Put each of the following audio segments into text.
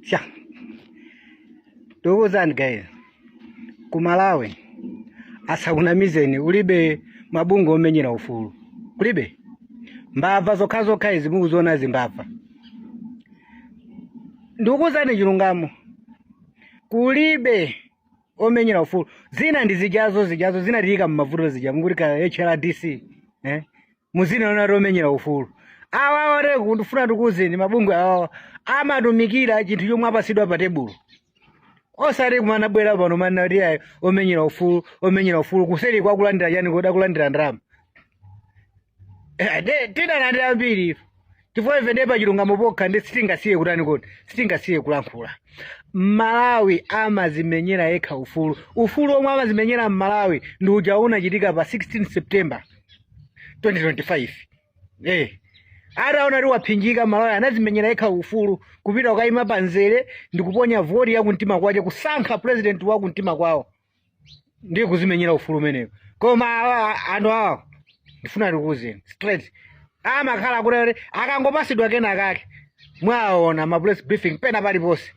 sha ndikuwuzani guys ku malawi asakunamizeni kulibe mabungwe omenyera ufulu kulibe mbava zokhazokha izi mukuziona zimbava ndikuwuzani chilungamo kulibe omenyera ufulu zina ndi zijazo zijazo zinatiyika mmavuto zija mukuti ka hrdc eh? muzina loti omenyera ufulu awa awateke ndifuna ndikuuzeni mabungwe awawa amatumikira chinthu chomwe apasidwa pa tebulo osati kumangobwera pano manena kuti ayi omenyera ufulu omenyera ufulu kuseri akulandira chani kodi akulandira ndalama Eh, de- tidalandira ambiri ife chifukwa ife ndiye pa chilungamo pokha ndi sitingasiye kutani kodi sitingasiye kulankhula mmalawi amazimenyera yekha ufulu ufulu omwe amazimenyera mmalawi ndi uja unachitika pa 16 september 2025 eh ataona kuti wapsinjika malawi anazimenyera yekha ufulu kupita kukayima pa nzere ndi kuponya voti ya kumtima kwace kusankha president wa kumtima kwawo ndiye kuzimenyera ufulu kumeneko koma awa anthu awa ndifuna ndikuwuzeni straight amakhala kuti kuti akangopasidwa kena kake mwaona ma press briefing pena paliponse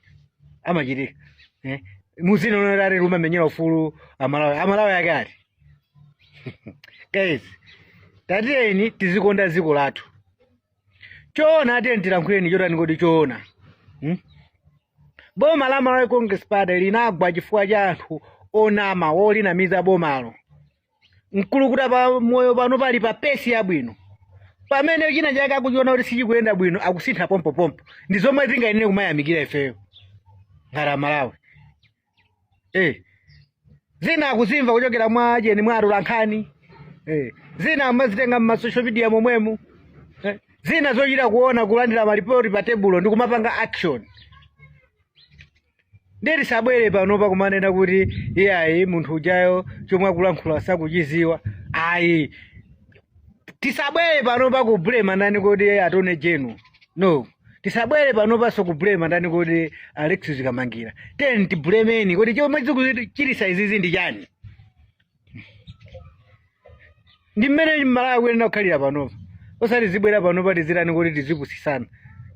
amachitika eh? muzina loti ati tikumenyera ufulu amalawi amalawi ake ati guys tatiyeni tizikonda dziko lathu choona tiyeni tilankhuleni chotani kodi choona hmm? boma la malawi congress party linagwa chifukwa cha anthu onama wolinamiza bomalo mkulukutamoyo pano pali pa pace yabwino pamene china chake akuchiona kuti sichikuyenda bwino akusintha pompopompo ndi zomwe tikuyenera kumayamikira ifeyo ngati amalawi eh. zina akuzimva kuchokera mwa ajeni mwa atolankhani eh. zina kumazitenga mmasocial media momwemu eh. zina zochita kuona kulandira malipoti pa tebulo ndi kumapanga action nde tisabwere panopa kumanena kuti iyayi munthu ujayo chomwe akulankhula sakuchiziwa ayi tisabwere panopa kublema ndani kodi attorney general no tisabwere panopaso kublema ndani kodi alexious kamangira tiyeni tiblemeni kuti chomwe chikuchitisa izizi ndi chani ndi mmene amalawi tikuyenera kukhalira panopa osati tizibwera panopa tizitani kodi tizipusisana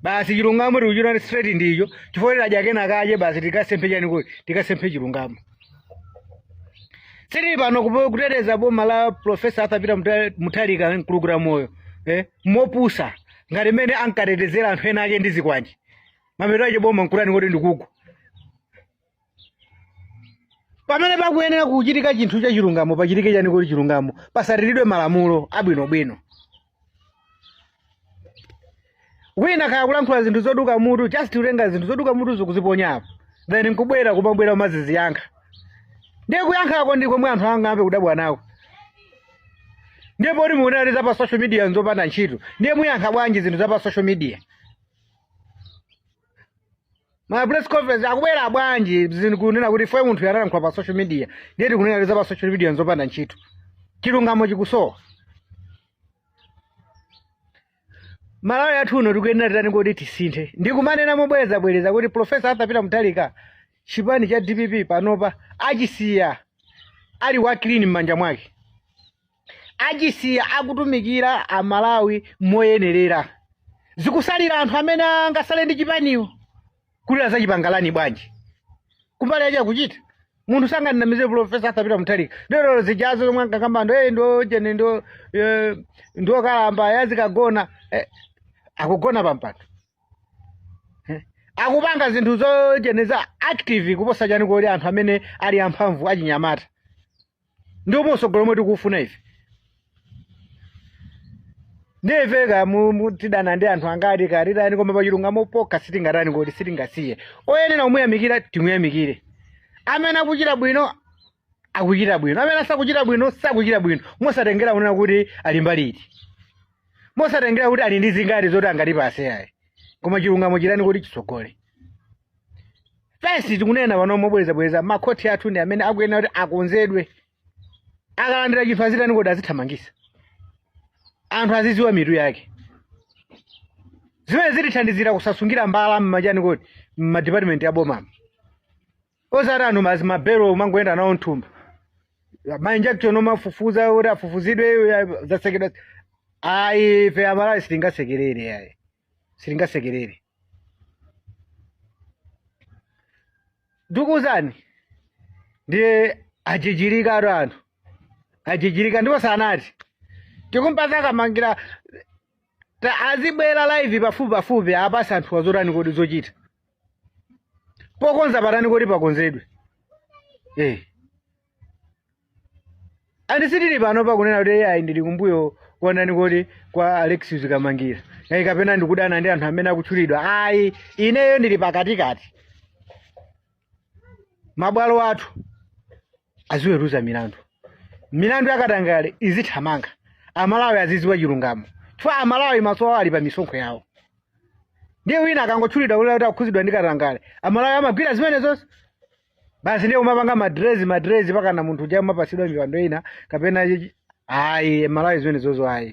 basi chilungamo tikuchitani straight ndicho chifukwa tadya kena kache basi tikasemphe chani kodi tikasemphe chilungamo sitili pano kupo- kuteteza boma la profesa arthur peter Muta- mutharika mkulukutamoyo eh? mopusa ngati mmene ankatetezera anthu ena ake ndi zikwanje mapeto ake boma nkutani kodi ndikugwa pamene pakuyenera kuchitika chinthu cha chilungamo pachitike chani kodi chilungamo pasatiridwe malamulo abwinobwino wina kaya kulankhula zinthu zoduka mutu just kutenga zinthu zoduka mutu nkuziponyapo then nkubwera kumabwera umaziziyankha ndiye kuyankhako ndi komwe anthu angayambe kudabwa nako ndiye poti mukunena za pa social media nzopanda ntchito ndiye muyankha bwanji zinthu za pa social media ma press conference akubwera bwanji zinthu kunena kuti fwe munthu yanalankhula pa social media ndiye tikunena za pa social media nzopanda ntchito chilungamo chikusowa malawi wathu uno tikuyenera titani kodi tisinthe ndikumanena mobwerezabwereza kuti profesa arthur peter mutharika chipani cha dpp panopa achisiya ali wa clean m'manja mwake achisiya akutumikira amalawi moyenerera zikusalira anthu amene angasale ndi chipaniwo kuti azachipanga rani bwanji kumbali yache akuchita munthu sanganamize profesa arthur peter mutharika lero zijazo zomwe ankakamba ndi ujeni ndi eh, ndi wokalamba yazikagona eh, akugona pampando Eh, akupanga zinthu zojeniza active kuposa chani kodi anthu amene ali amphamvu achinyamata ndi umene usogoleri omwe tikuufuna ife ndiye kaya mu- mu- tidana ndi anthu angatikatitani koma pachilungamo pokha sitingatani kodi sitingasiye oyenera kumuyamikira timuyamikire amene akuchita bwino akuchita bwino amene sakuchita bwino sakuchita bwino mosatengera kunena kuti ali mbali iti mosatengera kuti ali ndi zingati zoti angatipase ayi koma chilungamo chitani kodi chisogole fesi tikunena pano mobwerezabwereza makhoti athu ndi amene akuyenera kuti akonzedwe akalandira chinthu azitani kodi azithamangisa anthu aziziwa mutu wake zimene zitithandizira kusasungira mbala mmachani kodi mmadipatimenti a bomamo osati anthu mazi mabelo kumangoyenda nawo mthumba mainjection omafufuza kuti afufuzidwe eh, zasekedwa ayi ife amalawi sitingasekerere ayi sitingasekerere ndikuwuzani ndiye ajijirika atu anthu ajijirika ndipo sanati tikumpasa kamangira ta- azibwera live pafupi pafupi apase anthuwa zotani kodi zochita pokonza patani kodi pakonzedwe eh andi sindili pano pakunena kuti ayi ndili kumbuyo kuonani kodi kwa Alexious Kamangila ayi kapena ndikudana ndi anthu amene akutchulidwa ayi ineyo ndili pakatikati mabwalo athu aziweruza milandu milandu yakatangale izithamanga amalawi azidziwa chilungamo chifukwa amalawi maso awo ali pa misonkho yawo ndiye wina akangotchulidwa kuti akukhuzidwa ndi katangale amalawi amagwira zimenezo basi ndiye kumapanga madilezi madilezi mpakana munthu uja kumapasidwa mipando ina kapena chichi- ayi amalawi zimenezozo ayi